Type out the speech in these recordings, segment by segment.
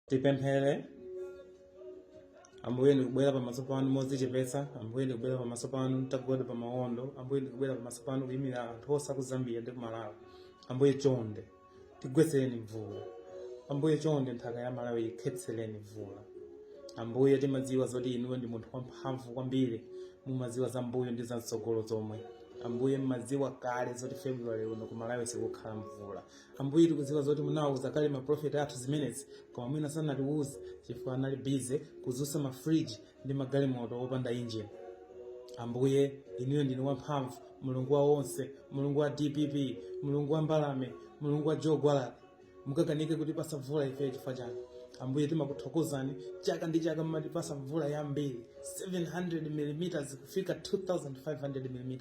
tipemphere ambuye ndikubwera pamaso panu modzichepetsa ambuye ndikubwera pamaso panu nditagwada pa mawondo ambuye ndikubwera pamaso panu kuyimira anthu onse aku zambia ndi kumalawi ambuye chonde tigwetsereni mvula ambuye chonde nthaka ya malawi ikhetsereni mvula ambuye timadziwa zoti inuyo ndi munthu wamphamvu kwambiri mumadziwa za mbuyo ndi za mtsogolo zomwe ambuye mmadziwa kale zoti february uno kumalawi sikukhala mvula ambuye tikudziwa zoti munawauza kale maprofeti athu zimenezi koma mwina sanatiwuze chifukwa anali busy kudzutsa mafriji ndi magalimoto opanda injini ambuye inuyo ndinu wamphamvu mulungu wa onse mulungu wa dpp mulungu wa mbalame mulungu wa njovu mukakanike kutipasa mvula ife chifukwa chani ambuye timakuthokozani chaka ndi chaka mumatipasa mvula yambiri 700 mm kufika 2500 mm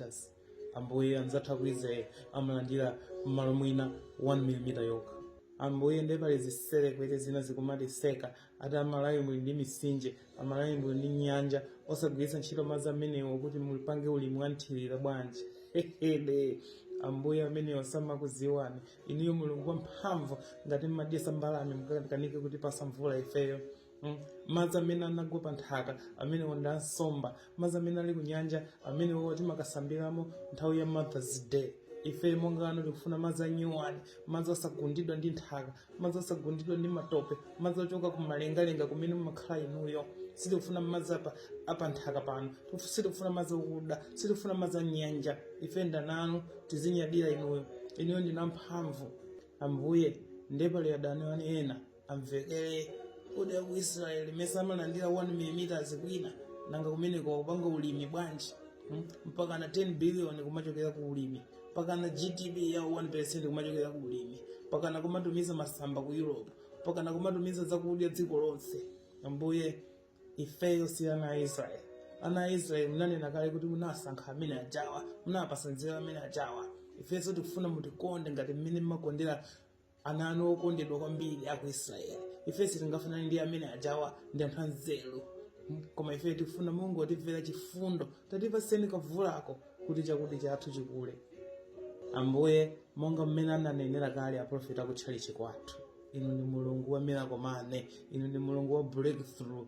ambuye anzathu ku israel amalandira mmalo mwina 1 mm yokha ambuye nde pali zitserekwete zina zikumatiseka ati amalawi muli ndi misinje amalawi muli ndi nyanja osagwiritsa ntchito madzi amenewo kuti muzipanga ulimi wanthirira bwanji hehede ambuye amenewa samakuziwani inuyo mulungu wamphamvu ngati mmadyesa mbalame mukakanike kutipasa mvula ifeyo Mm. madzi amene anagwa pa nthaka amenewo ndi ansomba madzi amene ali ku nyanja amenewo timakasambiramo nthawi ya mothers day ife monga ana anu tikufuna madzi anyuwani madzi osagundidwa ndi nthaka madzi osagundidwa ndi matope madzi ochoka ku malengalenga kumene mumakhala inuyo sitikufuna madzi apa apa nthaka pano Tifu- sitikufuna madzi okuda sitikufuna madzi anyanja ife ndi ana anu tizinyadira inuyo inuyo ndinu amphamvu ambuye ndiye pali adani anu ena amvekere kodi aku israeli mesa amalandira 1 mm kwina nanga kumeneko akupanga ulimi bwanji Hmm? mpaka na 10 billion kumachokera ku ulimi mpaka na gdp yawo 1% kumachokera ku ulimi mpaka na kumatumiza masamba ku europe mpaka na kumatumiza zakudya dziko lonse ambuye ifeyo si ana a israeli ana a israeli munanena kale kuti munasankha amene ajawa munapasa nzeru amene ajawa ifenso tikufuna mutikonde ngati mmene mmakondera ana anu okondedwa kwambiri aku israeli ife sitingafanane ndi amene ajawa ndi anthu anzeru M- koma ife tifuna mungotimvera chifundo tatipatseni kavulako kuti chakudya chathu chikule ambuye monga mmene ananenera kale aprofeti akutchalichi kwathu inu ndi mulungu wa miracle money inu ndi mulungu wa breakthrough